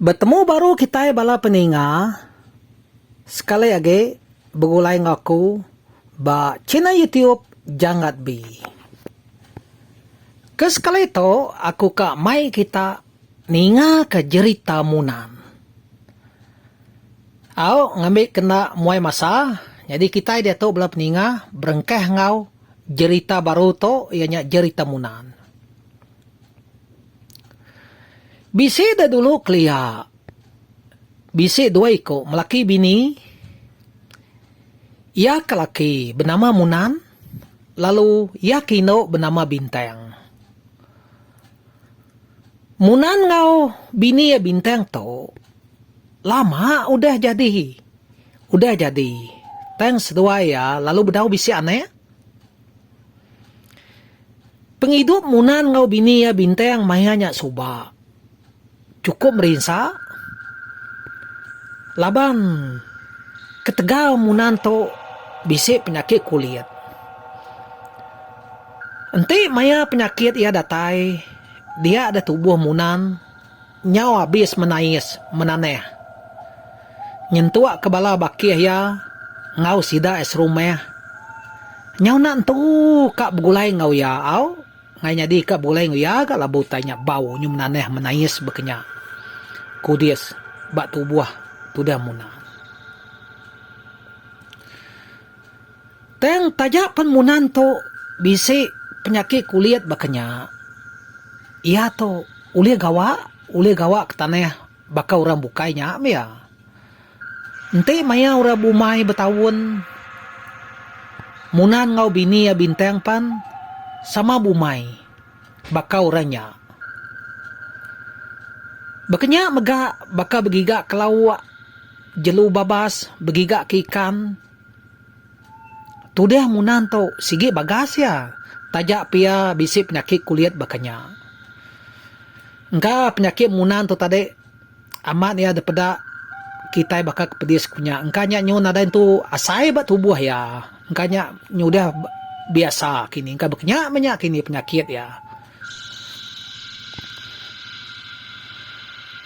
Betemu baru kitai bala peninga sekali agi begulai enggau aku ba channel YouTube Janggatb. Ke sekali tu aku ka mai kita ninga ke jerita Munan. Au ngambi kena muai masa nyadi kitai diatu bala peninga berengkah enggau jerita baru tu iya nya jerita Munan. Bisi da dulu kelia bisi dua iku melaki bini iya ke laki benama Munan. Lalu iya ke indu benama Bintang. Munan enggau bini iya Bintang tu lama udah jadi udah jadi tang seduai iya lalu bedau bisi anak. Pengidup Munan enggau bini iya Bintang maya nya suba. chukup merinsa laban ketegal munan tu bisi penyakit kulit enti maya penyakit iya datai dia da tubuh munan nyau abis menais menanah nyentuk ke bala bakih iya enggau sida serumah nyau enda entu ka begulai enggau iya au. Ngai nyadi ka bulai enggau iya ga labu utai nya bau nyu menanah menais bekenya kudis ba tubuh tudah Muna. Tang taja pen Muna ento bisi penyakit kulit bekenya iya tu ulih gawa ulih gawa ke tanah baka orang bukai nya mih iya. Enti maya orang bumai betaun, Munan enggau bini iya Bintang pan sama bumai baka orang nya. Baka nya mega baka begiga ke lauk, jelu babas, begiga ke ikan. Tudah Munan tu sigi bagas iya taja pia bisi penyakit kulit baka nya. Engka penyakit Munan tu tadi. Amat iya dipeda kitai baka ke pedis ku nya engka nya nyu nadai entu asai ba tubuh iya engka nya nyudah biasa kini engka bekenya meh nya kini penyakit iya.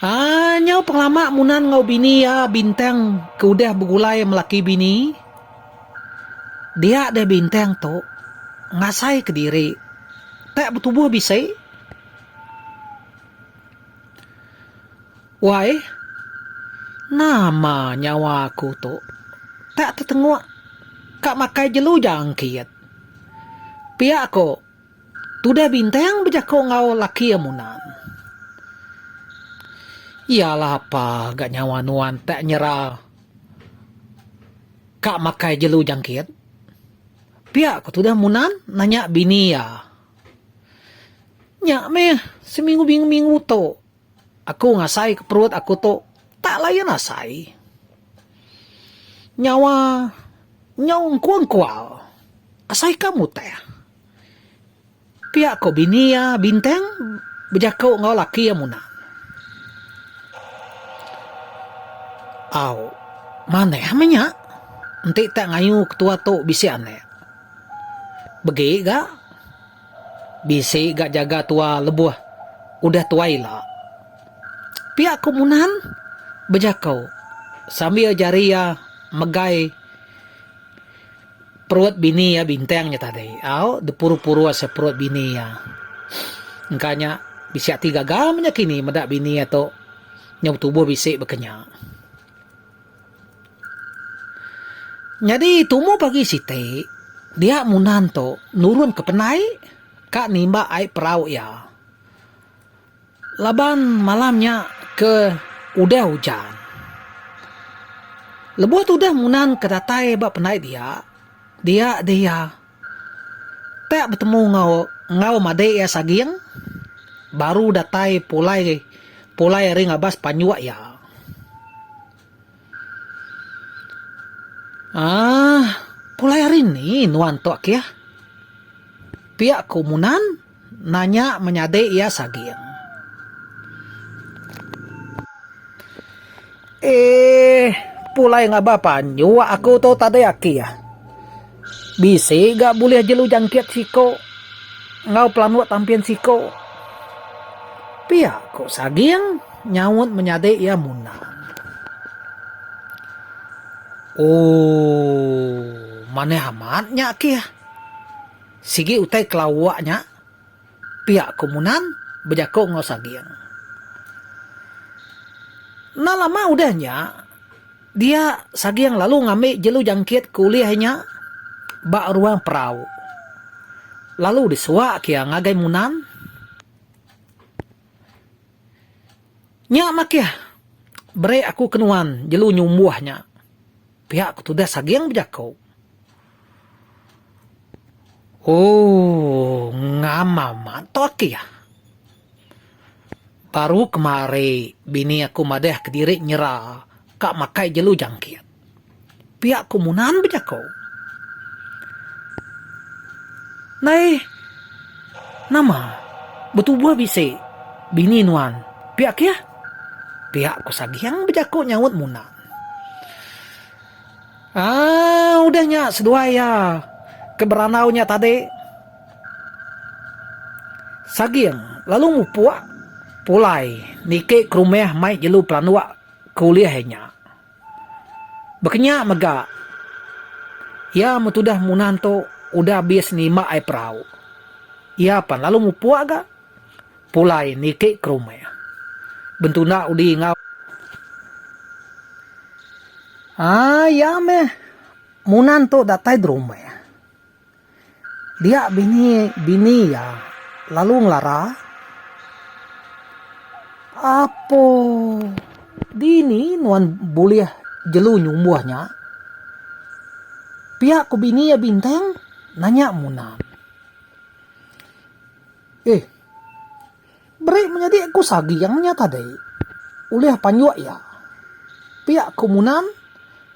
Aaa nyau pengelama Munan enggau bini iya bintang ke udah begulai melaki bini dia deh bintang tu ngasai kediri tak betubuh bisi. Wai, nama nyawa aku tu tak tetengok ka makai jelu jang kit. Pia ko tudah bintang bejako enggau laki iya munan. Iya lah apa ga nyawa nuan tak nyera ka makai jelu jang kit. Pia ko tudah munan nanya bini iya. Nya meh, seminggu minggu-minggu tu aku ngasaika perut aku tu tak layan asai. Nyawa nyau engkual-engkual, asaika mutih. Pia ko bini iya bintang bejako enggau laki iya munah. Au, manah meh nya. Enti tak ngayu ketua tu bisi anak. Begi ga. Bisi ga jaga tua lebuh udah tua ila. Pia ku Munan bejako sambil jari iya megai perut bini iya Bintang nya tadi. Au dipuru-puru asa perut bini iya. Engka nya bisi ati gaga menya kini meda bini iya tu nyau tubuh bisi baka nya. Nyadi tumu pagi siti, dia Munan tu nurunka penai ka nimba ai perau iya. Laban malam nya ke udah ujan. Lebuh tudah Munan ke datai ba penai dia, dia deh iya. Tyak betemu enggau enggau madik iya saging baru datai pulai pulai ari ngabas panjuk iya. Aah pulai ari ni nuan tu akih? Pia ku Munan. Nanya menyadi iya saging. Eeh, pulai ngabah panjua aku tu tadi aki ah. Bisi ga bulih jelu jangkit siko enggau pelanuk tampin siko. Pia ko saging nyaut menyadi iya munang. Ooh, manah amat nya aki ah. Sigi utai ke lawak nya pia ku Munan bejako enggau Saging. Enda lama udah nya dia Saging lalu ngambi jelu jangkit ke ulih iya nya ba ruang perau lalu disuak iya ngagai Munan. Nya makih beri aku ke nuan jelu nyumbuh nya, pia ku tudah Saging bejako. Ooh ngama mah tu aki ah. Baru kemari bini aku madah kediri nyera ka makai jelu jangkit. Pia ku munan bejaku. Nai nama betubuh bisi bini nuan pia kiyah? Pia ku Saging bejaku nyaut munan. Aaa udah nya seduai iya ke berandau nya tadi. Saging lalu mupuk pulai niki ke rumah mai jelu pelanduk ke ulih iya nya. Bekenya mega iya men tudah munah tu udah abis nimba ai perau. Iya pan lalu mupuk ga. Pulai niti ke rumah. Bentuna udi enggau. Haa iya meh. Munan tu datai derumah. Dia bini bini iya lalu ngelara. Apo dini nuan bulih jelu nyumbuh nya. Pia ku bini iya bintang nanya Munan. Eh. Beri menyadi ku Sagiang nya tadi ulih panjuk iya. Pia ku Munan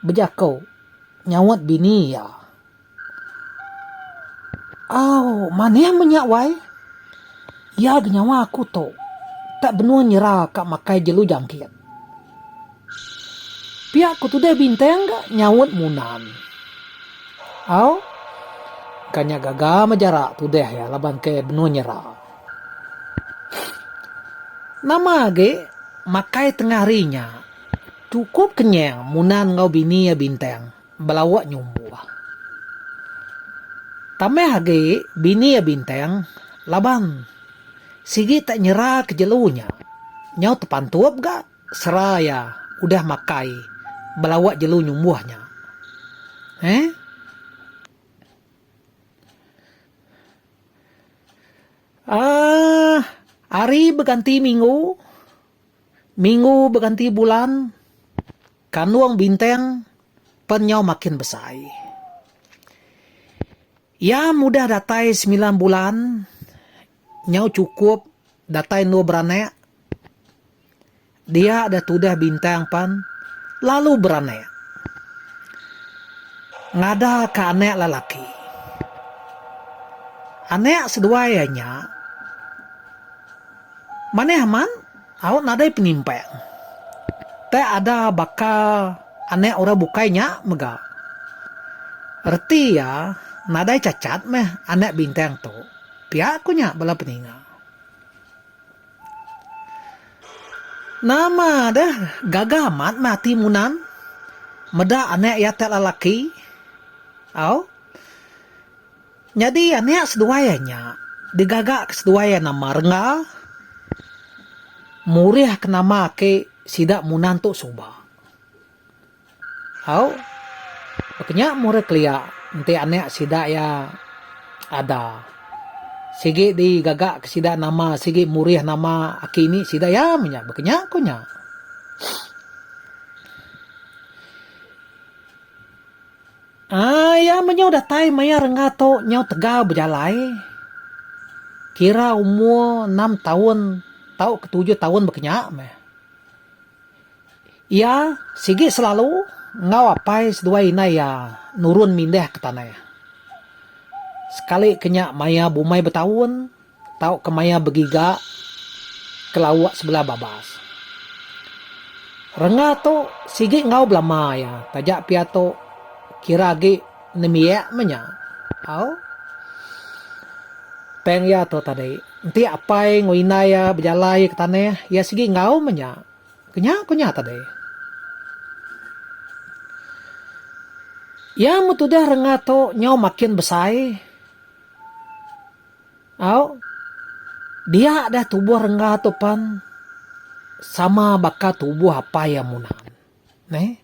bejako nyaut bini iya. Au, manih meh nya wai. Iya genyawa aku tu tak benung nyera ka makai jelu jangkit. Pia ku tudah bintang ga nyaut munan. Au ka nya gaga meh jarak tudah iya laban ke benung nyera. Nama agi makai tengah hari nya. Chukup kenyang munan enggau bini iya bintang. belawa nyumbuh. Tambah agi bini iya Bintang laban sigi tak nyeraka jelu nya nyau tepantup ga sera iya udah makai belawa jelu nyumbuh nya. Eeh. Aah hari beganti minggu, minggu beganti bulan. Kandung bintang pen nyau makin besai. Iya mudah datai semilan bulan nyau chukup datai endur beranak. Dia deh tudah bintang pen lalu beranak. Ngada ka anak lelaki. Anak seduai iya nya manah amat. Au nadai penimpang. Teh ada baka anak orang bukai nya mega. Reti iya nadai cacat meh anak bintang tu, pia ku nya bala peninga. Nama deh gaga amat meh ati Munan meda anak iya ti lelaki? Au. Nyadi anak seduai iya nya digaga ke seduai iya nama Rengga murih ke nama ake sida Munan tu suba. Au baka nya murih kelia enti anak sida iya ada sigi digaga ke sida nama sigi murih nama aki ini sida iya meh nya baka nya ku nya. Iya menyau datai maya rengga tu nyau tegal bejalai, kira umur enam taun tau ke tujuh taun bekenya meh. Iya sigi selalu enggau apai seduai indai iya nurun mindih ke tanah. Sekali ke nya maya bumai betaun. Tau kemaya begiga ke lauk sebelah babas. Renga tu sigi enggau belama iya taja pia tu kira agi nembiak meh nya. Au. Peng iya tu tadi enti apai enggau indai iya bejalai ke tanah iya sigi enggau meh nya. Kenya ku nya tadi. Iya meh tudah renga tu nyau makin besai. Au. Dia deh tubuh rengga tu pan sama baka tubuh apai iya munan. Neh.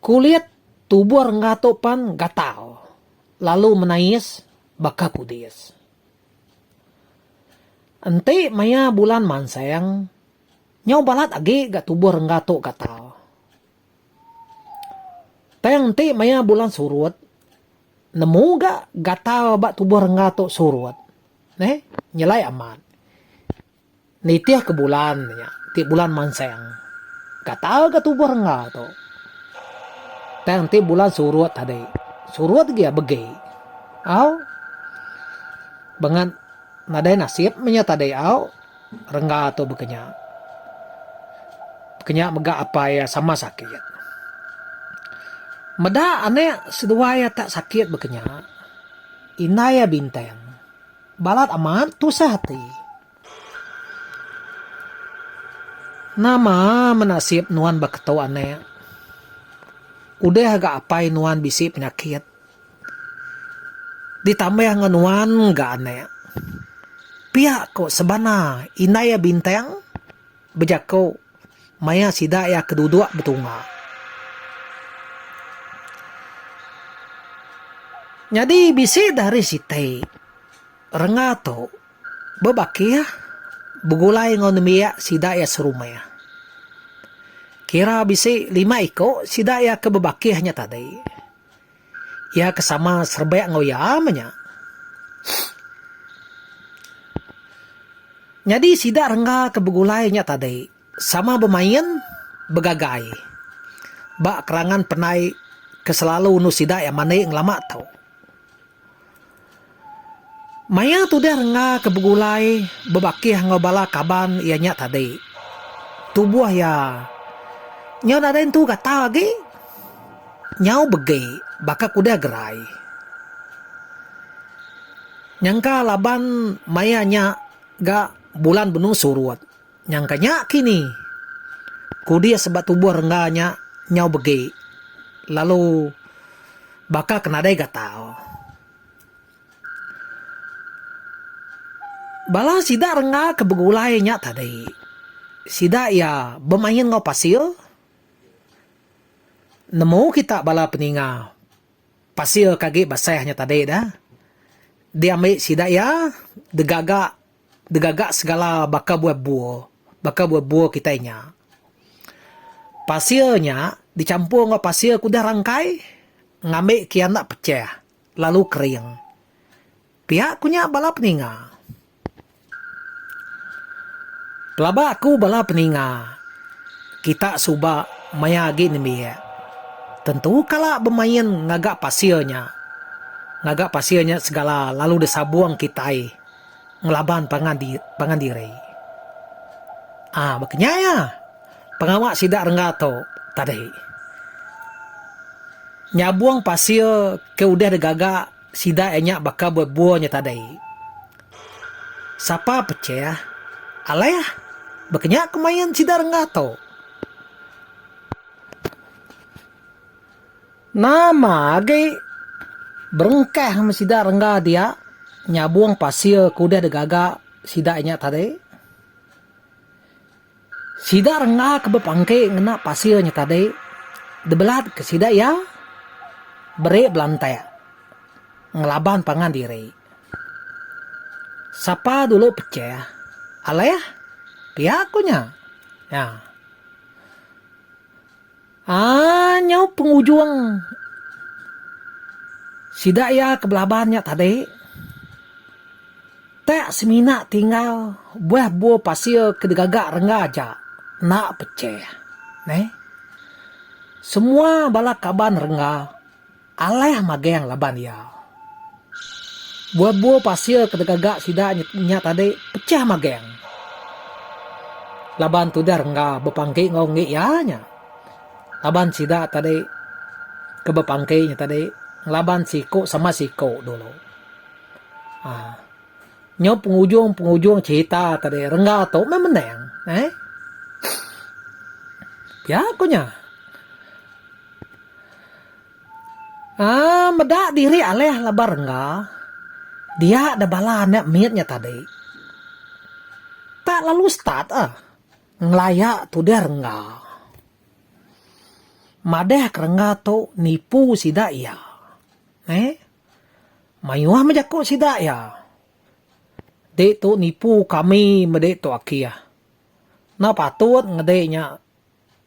Kulit tubuh rengga tu pan gatal lalu menais baka kudis. Enti maya bulan mansang, nyau balat agi ga tubuh rengga tu gatal. Tang enti maya bulan surut. Nemu ga gatal ba tubuh rengga tu surut neh nyelai amat. Nitih ke bulan nya ti bulan manseng. Gatal ga tubuh rengga tu. Tang enti bulan surut tadi, surut gia begi. Au. Bengat nadai nasib meh nya tadi au. Rengga tu bekenya. Bekenya mega apai iya sama sakit. Meda anak seduai iya tak sakit bekenya, indai iya bintang balat amat tusah ati. Nama menasib nuan ba ketu anak. Udah ga apai nuan bisi penyakit. Ditambah enggau nuan ga anak. Pia ko sebana indai iya bintang bejako maya sida iya ke dudok betunga. Nyadi bisi dah hari siti renga tu bebakih begulai enggau nembiak sida iya serumah. Kira bisi lima iko sida iya ke bebakih nya tadi. Iya ke sama serbek enggau iya meh nya. Nyadi sida rengga ke begulai nya tadi sama bemain, begagai ba kerangan penai ke selalu endur sida iya mandi ngelama tu. Maya tudah rengga ke begulai bebakih enggau bala kaban iya nya tadi, tubuh iya nyau nadai entu gatal agi, nyau begi baka ke udah gerai. Nyangka laban maya nya ga bulan benung surut. Nyangka nya kini. Kudis ba tubuh rengga nya nyau begi lalu baka ke nadai gatal. Bala sida rengga ke begulai nya tadi sida iya bemain enggau pasir. Nemu kita bala peninga pasir ke agi basah nya tadi dah diambi sida iya digaga. Degaga segala baka buah bua, baka buah bua kitai nya. Pasir nya dichampur enggau pasir ke udah rangkai ngambi ke iya enda pechah lalu kering. Pia ku nya bala peninga. Pelaba aku bala peninga, kita suba maya agi nembiak tentu kala bemain ngaga pasir nya. Ngaga pasir nya segala lalu disabung kitai. ngelaban pangan di pangan diri. Ah baka nya iya pengawa sida rengga tu tadi. Nyabung pasir ke udah digaga sida iya nya baka bebur nya tadi. Sapa pecheh alih baka nya kemain sida rengga tu. Nama agi berengkah meh sida rengga dia nyabung pasir ke udah digaga sida inya tadi. Sida rengga ke bepangki ngena pasir nya tadi dibelatka sida iya beri belantak ngelaban pangan diri. Sapa dulu pechah alih pia ku nya. Nya. Aa nyau pengujung sida iya ke belaban nya tadi tak semina tinggal buah bua pasir ke digaga rengga aja enda pecheh neh. Semua bala kaban rengga. Alah magang laban iya. Bua-bua pasir ke degaga sida nya tadi pecah magang. Laban tudah rengga bepangki enggau enggi iya nya. Laban sida tadi ke bepangki nya tadi ngelaban siku sama siku dulu. Haa. Nyau pengujung-pengujung cherita tadi rengga tu meh menang. Eh. Pia ku nya. Aa meda diri alih laban rengga dia da bala anak mit nya tadi. Tak lalu start ah ngelaya tudah rengga. Madah ke rengga tu nipu sida iya. Neh. Mayuh meh jaku sida iya. Ditu nipu kami meda tu aki ah. Enda patut ngede nya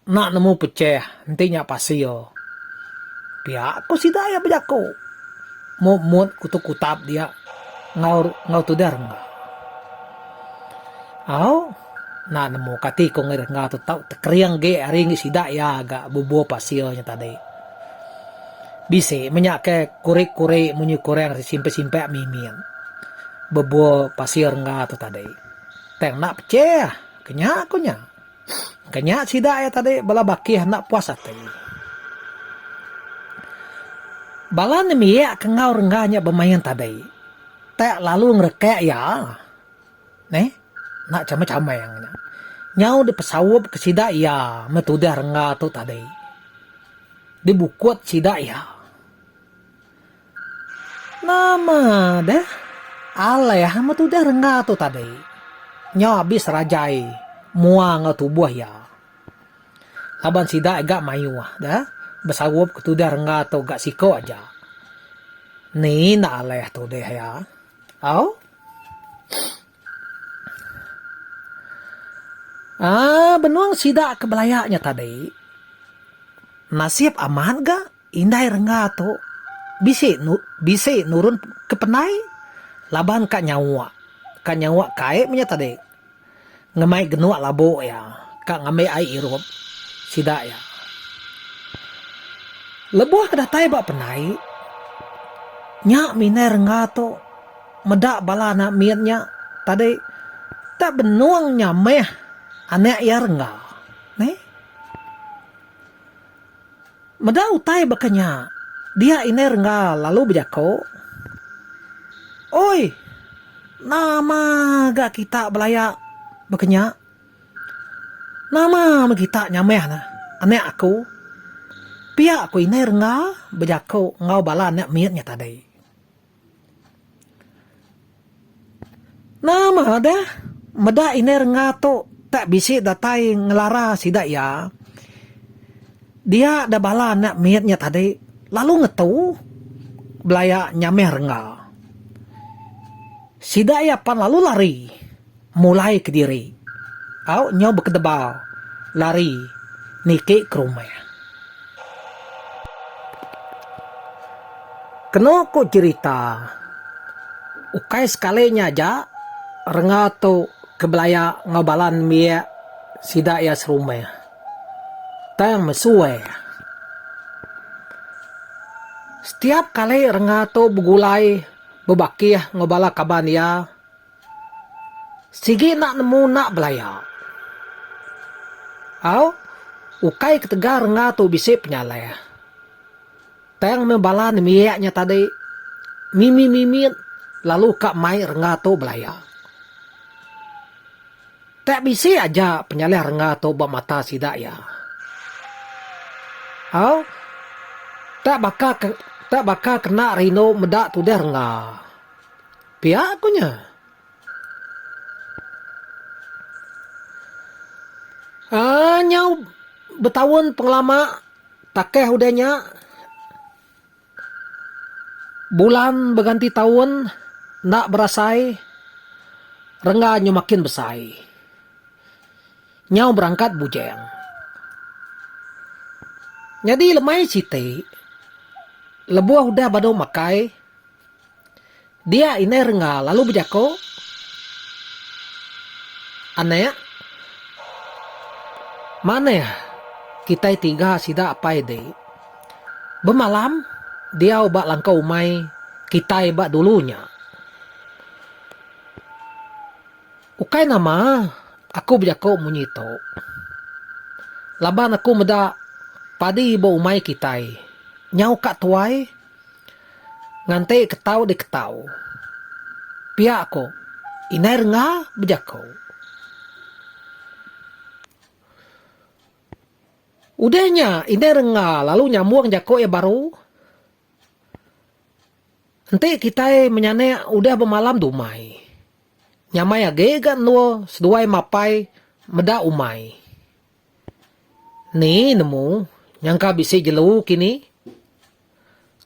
Enda nemu pecheh enti nya pasir. Pia ko sida iya bejako. Mop mut kuto kutap dia enggau enggau tudah rengga. Au enda nemu kati ko ngai rengga tu tau tekering agi ari ngi sida iya ga bubur pasir nya tadi. Bisi meh nya ke kuri kuri munyi kurang ari simpe simpe mimit bubur pasir rengga tu tadi. Tang enda pecheh ke nya ko nya. Ke nya sida iya tadi bala bakih enda puas ati. Bala nembiak ke enggau rengga nya bemain tadi tak lalu ngerekak iya. Neh. Enda chamang-chamang nya. Nyau dipesaup ke sida iya meh tudah rengga tu tadi. Dibukut sida iya. Nama deh. Alai amat udah rengga tu tadi. Nyau abis Rajai mua enggau tubuh iya. Laban sida ga mayuh deh besarup ke tudah rengga tu ga siko aja. Ni enda alai tu deh iya. Au. Aaa benung sida ke belaya nya tadi nasib amat ga indai rengga tu bisi bisi nurun ke penai laban ka nyawa ka nyawa kai meh nya tadi ngemai genuk labu iya ka ngambi ai irup sida iya. Lebuh ke datai ba penai nya mih indai rengga tu. Meda bala anak mit nya tadi tak benung nya meh anak iya rengga. Neh. Meda utai baka nya, dia indai rengga lalu bejaku, Oi, nama ga kita belaya baka nya? Nama meh kita nyamah ne anak aku? Pia ku indai rengga bejaku enggau bala anak mit nya tadi. Nama deh meda indai rengga tu tak bisi datai ngelara sida iya. Dia deh bala anak mit nya tadi lalu ngetu belaya nyamih rengga. Sida iya pan lalu lari. Mulai kediri. Au nyau bekedebal. Lari. Niki ke rumah. Kenu ku cherita. Ukai sekali nya aja renga tu ke belaya enggau bala nembiak sida iya serumah. Tang mesui. Setiap kali renga tu begulai bebakih enggau bala kaban iya. Sigi enda nemu enda belaya. Au, ukai ketegal rengga tu bisi penyalai. Tang meh bala nembiak nya tadi mimit-mimit lalu ka mai rengga tu belaya. Tak bisi aja penyalai rengga tu ba mata sida iya. Au, tak baka tak baka kena rindu meda tudah rengga. Pia ku nya. Aaa nyau betaun pengelama takeh udah nya bulan beganti taun enda berasai rengga nyau makin besai. Nyau berangkat bujeng. Nyadi lemai siti lebuh udah badu makai. Dia indai rengga lalu bejako, Anak, manah kitai tiga sida apai di. Bemalam diau ba langkau umai kitai ba dulu nya. Ukai nama aku bejako munyi tu. Laban aku meda padi ba umai kitai nyau ka tuai. Nganti ketau diketau. Pia ko indai rengga bejako. Udah nya indai rengga lalu nyambung jako iya baru. Enti kitai menyanek udah bemalam dumai. Nyamai agi ga endur seduai mapai meda umai. Ni nemu nyangka bisi jelu kini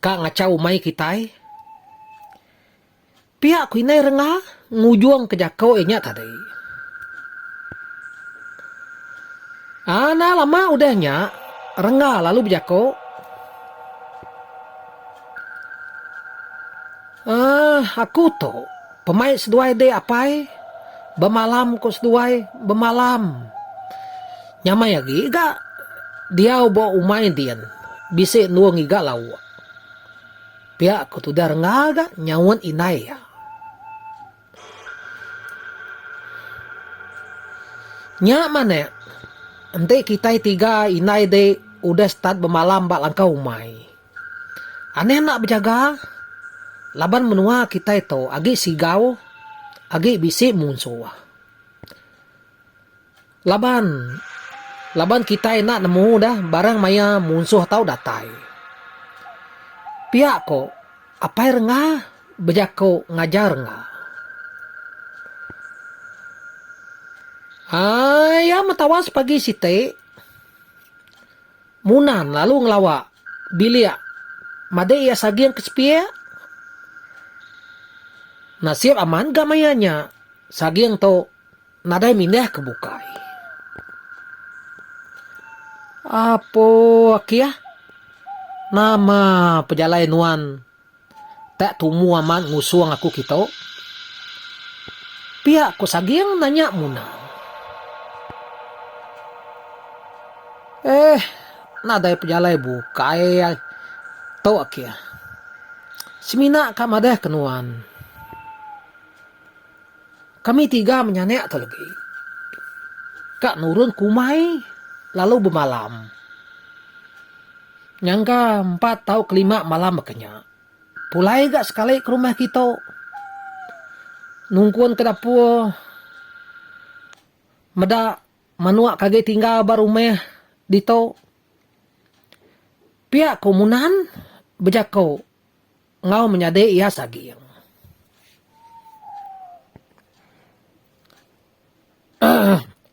ka ngachau umai kitai? Pia ku indai rengga ngujungka jako iya nya tadi. Anda lama udah nya rengga lalu bejako. Uhh aku tu. Pemai seduai dek apai. Bemalam ko seduai bemalam. Nyamai agi ga diau ba umai din bisi endur ngiga lauk. Pia ko tudah rengga ga nyaut indai iya. Nya manik enti kitai tiga indai dek udah start bemalam ba langkau umai. Aneh enda bejaga laban menua kitai tu agi sigau agi bisi munsuh. Laban laban kitai enda nemu deh barang maya munsuh tau datai. Pia ko apai rengga bejako ngajar rengga. Aii iya meh tawas pagi siti. Munan lalu ngelawa bilik madik iya saging ke sepik. Nasib aman ga maya nya saging tu nadai mindah ke bukai. Apo aki ah. Nama pejalai nuan. Tak tumu amat ngusung aku kitu. Pia ku Saging nanya Muna. Eh, nadai pejalai bukai tu ke. Semina ka madah ke nuan. Kami tiga menyanak tu legi ka nurun kumai lalu bemalam. Nyangka empat tau kelima malam baka nya, pulai ga sekali ke rumah kitu. Nungkun ke dapur meda manuk ke agi tinggal ba rumah ditu. Pia ku Munan bejaku. Enggau menyadi iya saging.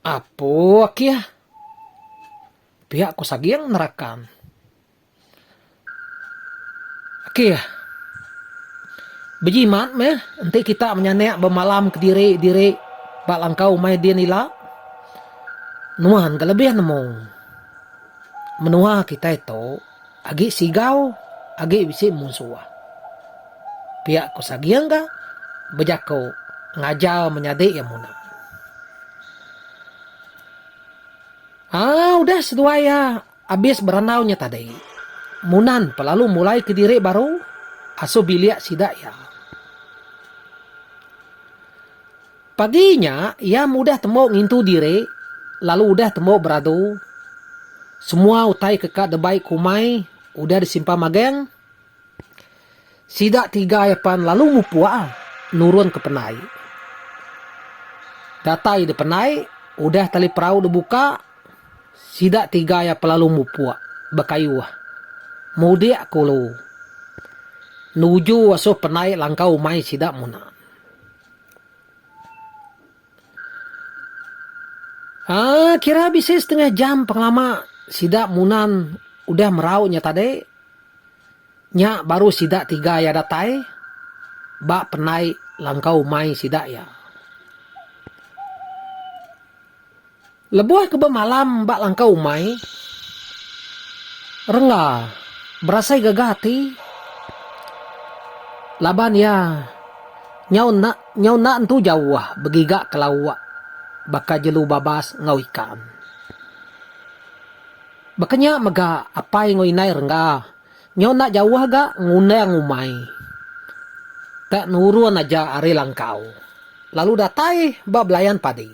Apu akih. Pia ku saging nerakan. Akih. Bejimat meh enti kita menyanak bemalam kediri diri ba langkau umai din ila. Nuan ke lebih nemu. Menua kitai tu. Agi sigau agi bisi munsuh. Pia ko Saging ga bejako ngajar menyadi iya munah. Aa udah seduai iya abis berandau nya tadi Munan pa lalu mulai ke diri baru asoh bilik sida iya. Pagi nya, iya mudah tembu ngintu diri lalu udah tembu beradu. Semua utai ke ka debai ku umai udah disimpan magang. Sida tiga iya pan lalu mupuk nurun ke penai. Datai di penai, udah tali perau dibuka, sida tiga iya pan lalu mupuk bekayuh mudik ke ulu nuju asuh penai langkau umai sida muna. Aa kira bisi setengah jam pengelama sida Munan udah merau nya tadi. Nya baru sida tiga iya datai ba penai langkau umai sida iya. Lebuh ke bemalam ba langkau umai, Rengga berasai gaga ati laban iya nyau enda nyau enda entu jauh begiga ke lauk baka jelu babas enggau ikan. Baka nya mega apai enggau indai Rengga nyau enda jauh ga ngundang umai te nurun aja ari langkau lalu datai ba belayan padi.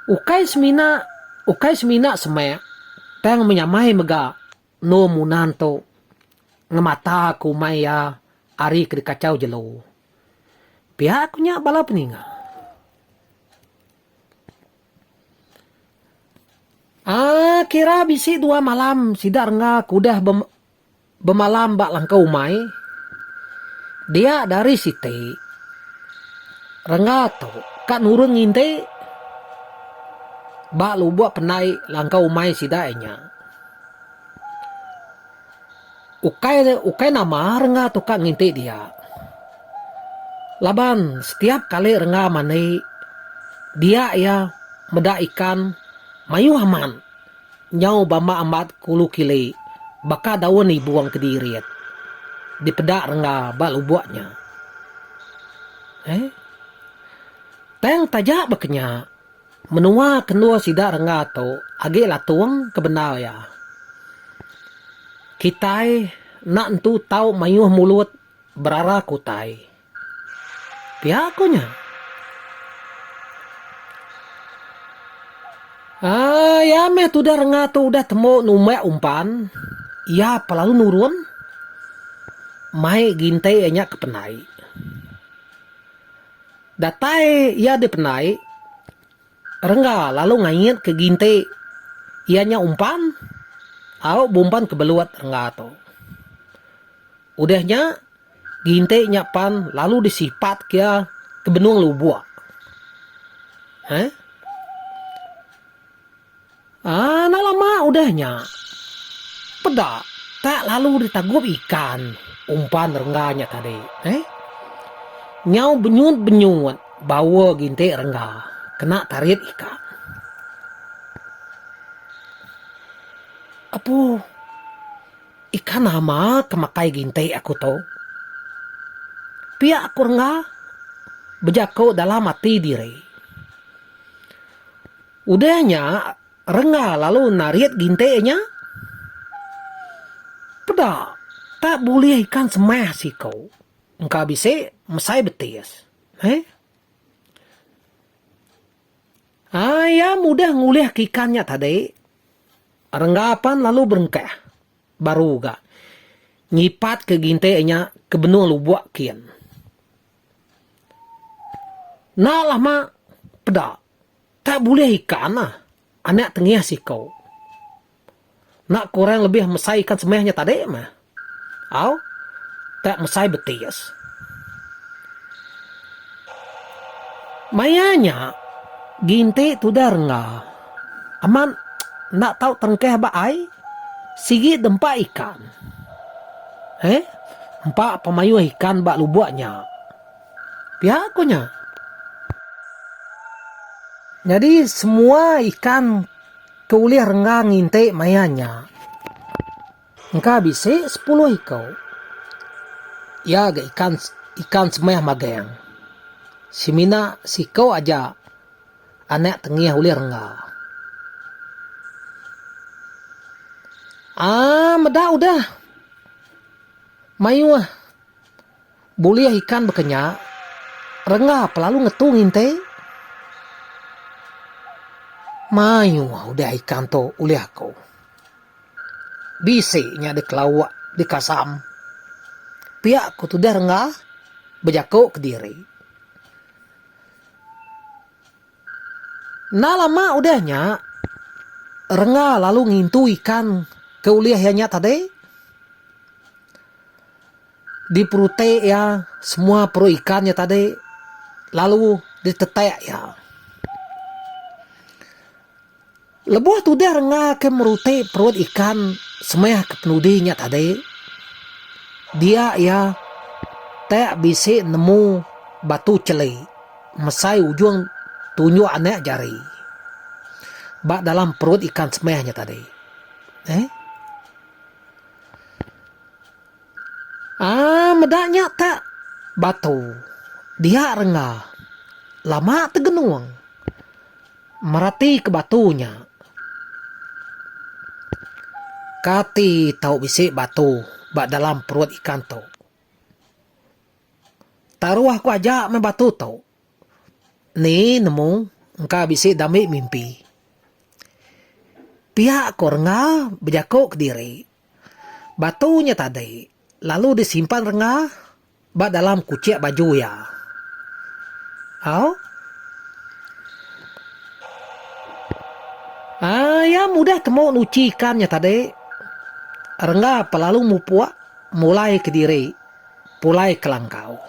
Ukai semina ukai semina semak tang menyamai mega endur Munan tu ngemata ke umai iya ari ke dikachau jelu. Pia ku nya bala peninga. Aaa kira bisi dua malam sida rengga ke udah bemalam ba langkau umai dia dari siti rengga tu ka nurun nginti ba lubok pendai langkau umai sida iya nya ukai ukai nama rengga tu ka nginti dia laban setiap kali rengga mandi dia iya meda ikan mayuh amat. Nyau bama amat kulu kili baka daun ibung ke diirit dipeda rengga ba lubuk nya. Heh. Tang taja baka nya, menua ke endur sida rengga tu agi latung ke bendar iya. Kitai enda entu tau mayuh mulut berara ke utai. Pia ko nya. Ai ya meh tudah rengah tu udah temu numbak umpan, iya pa lalu nurun mai gintai iya nya ke penai. Datai iya di penai. Rengga lalu ngait ke ginti iya nya umpan au bumpan ke belut rengga tu. Udah nya ginti nya pan lalu disipat ke iya ke benung lubok. Heh. Enda lama udah nya, peda tak lalu ditagup ikan umpan rengga nya tadi. Nyau benyut-benyut baur gintik rengga kena tarit ikan. Apu, ikan nama ke makai gintik aku tu? Pia ku rengga bejaku dalam ati diri. Udah nya, Rengga lalu narit gintik nya. Peda, tak bulih ikan semah siku. Engka bisi, mesai betis. Heh. Ai, iya mudah ngulihka ikan nya tadi. Rengga pan lalu berengkah. Baru ga, nyipatka gintik nya ke benung lubuk kin. Enda lama, peda. Tak bulih ika ana anak tengih siko. Nak kurang lebih mesai ikan semah nya tadi mah. Au, tak mesai betis. Maya nya, Ginti tudah rengga. Amat enda tau terengkah ba ai, sigi dempa ikan. Heh, empa pemayuh ikan ba lubok nya. Pia ku nya. Nyadi semua ikan ke ulih renggang nginti maya nya engka bisi sepuluh iku. Iya ga ikan ikan semeh magang. Semina siku aja anak tengih ulih rengga. Aa meda udah mayuh Bulih ikan baka nya, rengga pa lalu ngetu nginte. Mayuh udah ikan tu ulih aku. Bisi nya dikelauk, dikasam. Pia ku tudah rengga bejaku kediri. Enda lama udah nya, rengga lalu ngintu ikan ke ulih iya nya tadi. Diperutik iya semua perut ikan iya tadi lalu ditetak iya. Lebuh tudah rengga ke merutik perut ikan semaya ke penudi nya tadi dia iya tak bisi nemu batu cheli mesai ujung tunjuk anak jari ba dalam perut ikan semaya nya tadi. Eee. Aa meda nya tak batu dia rengga lama tegenung mereti ke batu nya kati tau bisi batu ba dalam perut ikan tu taruh ku aja meh batu tu. Ni nemu engka bisi dami mimpi. Pia ko renga bejako kediri batu nya tadi lalu disimpan renga ba dalam kuchek baju iya. Au. Aaa iya mudah temu nuchi ikan nya tadi. Renga pa lalu mupuk mulai kediri. Pulai ke langkau.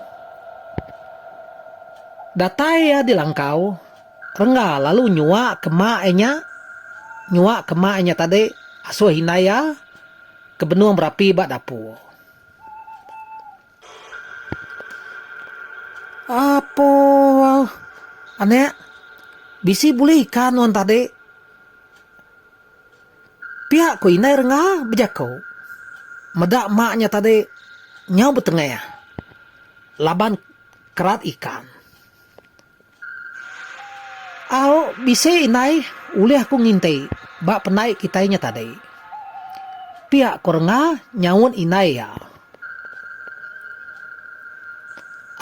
Datai iya di langkau, Rengga lalu nyua ke mak iya nya. Nyua ke mak iya nya tadi asuh indai iya ke benung berapi ba dapur. Apoh. Anak, bisi bulih ikan nuan tadi. Pia ku indai renga bejaku. Meda mak nya tadi nyau betengah laban kerat ikan. Au bisi indai ulih aku nginti ba penai kitai nya tadi. Pia ku renga nyaut indai iya.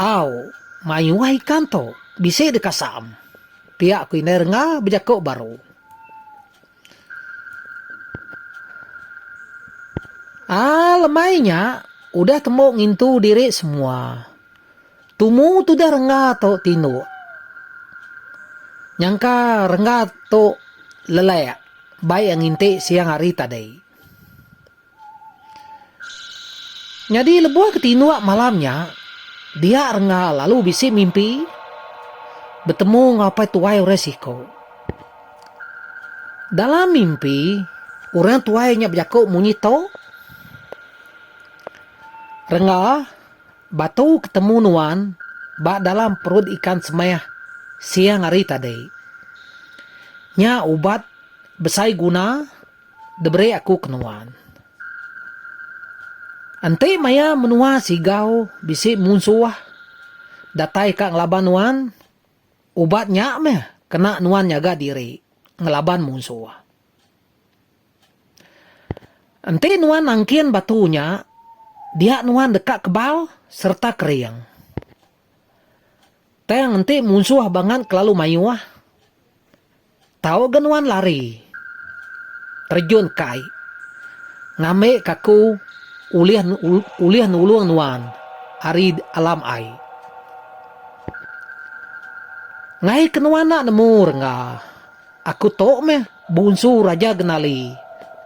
Au mayuh ikan tu bisi dikasam. Pia ku indai renga bejaku baru. Aa lemai nya udah tembu ngintu diri semua. Tumu tudah rengga tu tinduk. Nyangka rengga tu lelek bai a nginti siang hari tadi. Nyadi lebuh ke tinduk malam nya, dia Rengga lalu bisi mimpi betemu enggau apai tuai orang siko. Dalam mimpi, orang tuai nya bejako munyi to, Rengga, batu ke temu nuan ba dalam perut ikan semeh siang hari tadi. Nya ubat besai guna. Diberi aku ke nuan. Enti maya menua Sigau bisi munsuh datai ka ngelaban nuan, ubat nya meh kena nuan nyaga diri ngelaban munsuh. Enti nuan nangkin batu nya, dia nuan deka kebal sereta kering. Tang enti munsuh bangat kelalu mayuh. Tau ga nuan lari terjun ka ai. Ngambi ka aku ulih ulih nulung nuan ari alam ai. Ngaih ke nuan enda nemu rengga, aku tu meh bunsu Raja Genali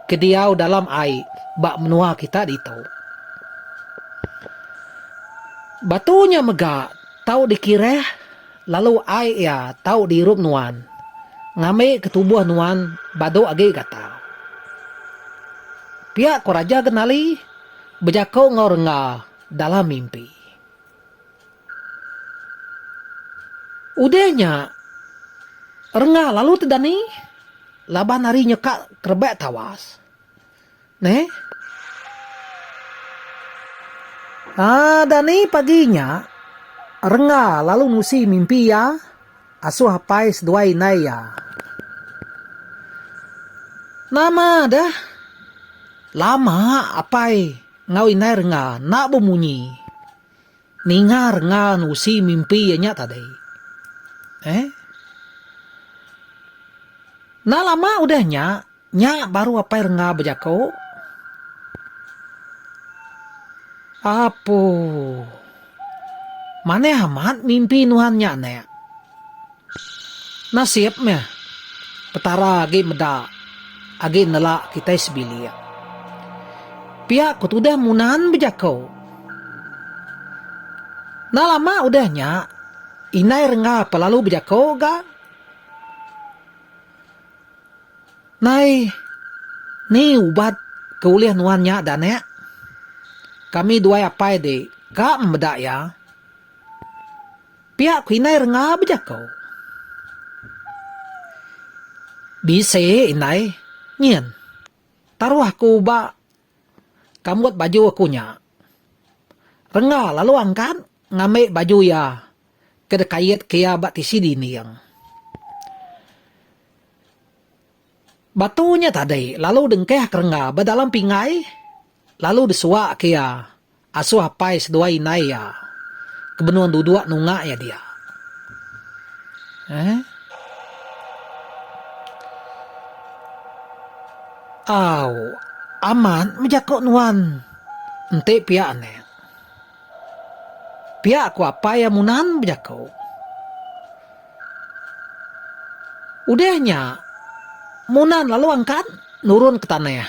ke diau dalam ai ba menua kita ditu. Batu nya mega tau dikireh Lalu ai iya tau diirup nuan, ngambi ke tubuh nuan badu agi gatal. Pia ko Raja Genali bejako enggau rengga dalam mimpi. Udah nya, rengga lalu tedani laban ari nyekak kerebak tawas. Neh. Ah, Dani pagi nya, Rengga lalu nusi mimpi iya asuh apai seduai indai iya. Nama deh, lama apai enggau indai Rengga enda bemunyi. Ninga renga nusi mimpi iya nya tadi. Eh. Enda lama udah nya, nya baru apai renga bejaku. Apuh. Manah amat mimpi nuan nya, Anak. Nasib meh, Petara agi meda agi nela kitai sebilik. Pia ku tudah Munan bejako. Enda lama udah nya, Indai Rengga pe lalu bejako ga. Nai, ni ubat ke ulih nuan nya da anak? Kami duai apai dik ka memeda iya. Pia ku indai renga bejako. Bisi indai nyin. Taruh aku ba kambut baju aku nya. Renga lalu angkat ngambi baju iya ke dikait ke iya ba tisi dinding. Batu nya tadi lalu dengkah ke renga ba dalam pinggai lalu disuak ke iya. Asuh apai seduai indai iya ke benung duduk nunga iya dia. Eh. Au, amat mega ko nuan. Enti pia anak. Pia ko apai iya munan bejako. Udah nya, munan lalu angkat nurun ke tanah.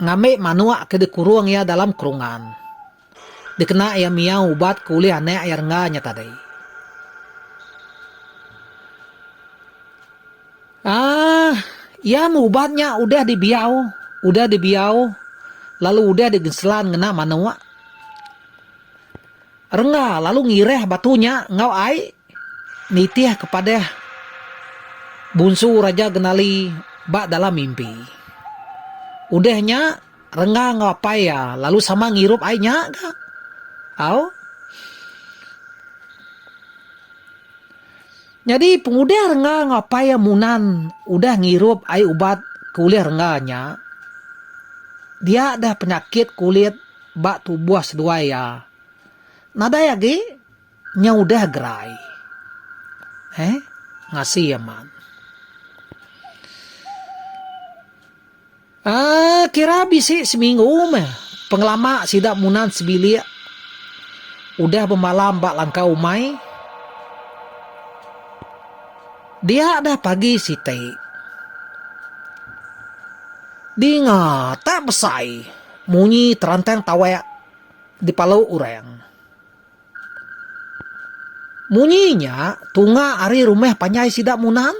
Ngambi manuk ke dikurung iya dalam kurungan. Dikena iya miau ubat ke ulih anak iya rengga nya tadi. Aah, iya meh ubat nya udah dibiau, udah dibiau lalu udah digenselan ngena manuk. Rengga lalu ngireh batu nya enggau ai nitih kepadah Bunsu Raja Genali ba dalam mimpi. Udah nya, Rengga enggau apai iya lalu sama ngirup ai nya ga. Au. Nyadi pengudah Rengga enggau apai iya Munan udah ngirup ai ubat ke ulih Rengga nya, dia deh penyakit kulit. ba tubuh seduai iya. Nadai agi nya udah gerai. Eh, ngasi amat. Ah, kira bisi seminggu meh pengelama sida Munan sebilik udah bemalam ba langkau umai. Dia dah pagi siti. Dinga tak besai. Munyi terantang tawak dipalu orang. Munyi nya tunga ari rumah panjai sida Munang.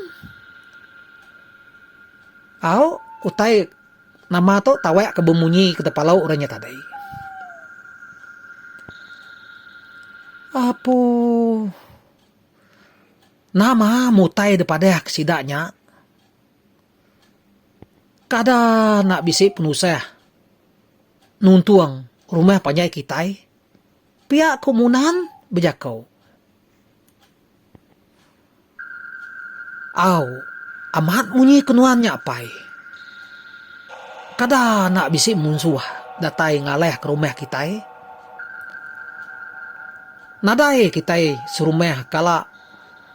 Au utai nama tu tawak ke bemunyi ke dipalu orang nya tadi. Apo nama mutai dipadah ke sida nya? Kada enda bisi penusah nuntung rumah panjai kitai, pia ku Munan bejaku. Au, amat munyi ke nuan nya apai. Kada enda bisi munsuh datai ngalahka rumah kitai. Nadai kitai serumah kala.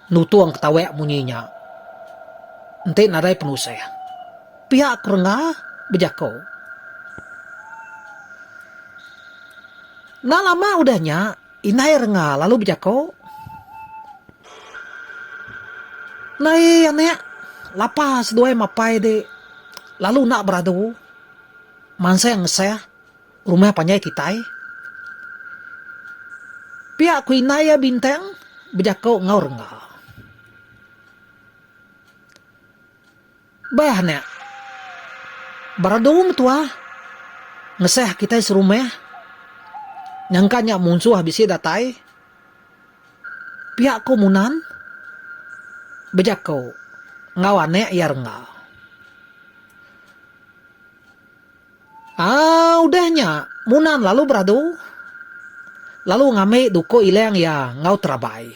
Lutung ke tawek munyi nya enti nadai penusah, piak ku rengga bejako. Enda lama udah nya, indai rengga lalu bejako, Nai anek, lapa seduai mapai dik lalu enda beradu mansang ngesah. Rumah panjai kitai. Pia ku indai iya Bintang bejako enggau rengga. Bah nya. Beradu mentua ngesah kitai serumah. Nyangka nya munsuh bisi datai. Pia ku Munan bejako enggau anak iya rengga. Aa udah nya Munan lalu beradu lalu ngambi duko Ilang iya enggau terabai.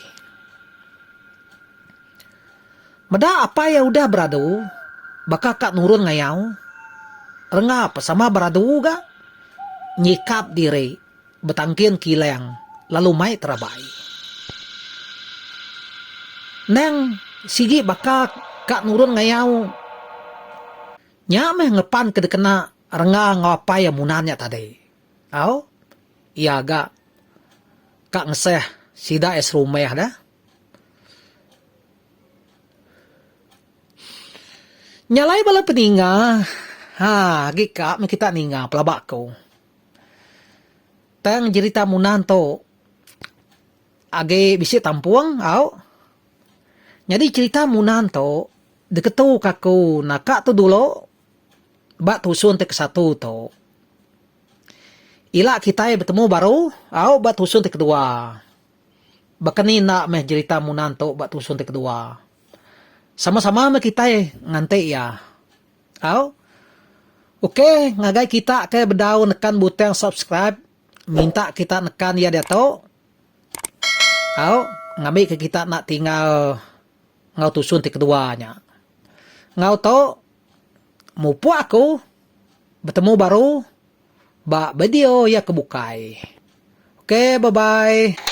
Meda apai iya udah beradu baka ka nurun ngayau rengap sama beradu ga nyikap diri betangkin ke Ilang lalu mai terabai. Endang sigi baka ka nurun ngayau Nya meh ngepan ke dikena Rengga enggau apai iya Munan nya tadi. Au, iya ga ka ngeseh sida iya serumah da. Nya alai bala peninga, ha agi ka meh kita ninga pelaba aku. Tang jerita Munan tu agi bisi tampung, au. Nyadi jerita Munan tu. Diketuka aku naka tu dulu ba tusun ti kesatu tu. Ila kitai betemu baru au ba tusun ti kedua. Baka ni enda meh jerita Munan tu ba tusun ti kedua. Sama-sama meh kitai nganti iya. Au. Ok ngagai kita ke bedau nekan butang subscribe minta kita nekan iya diatu. Au ngambika kita enda tinggal. Enggau tusun ti kedua nya. Enggau tu mupuk aku betemu baru ba video iya ke bukai. Ok bye bye.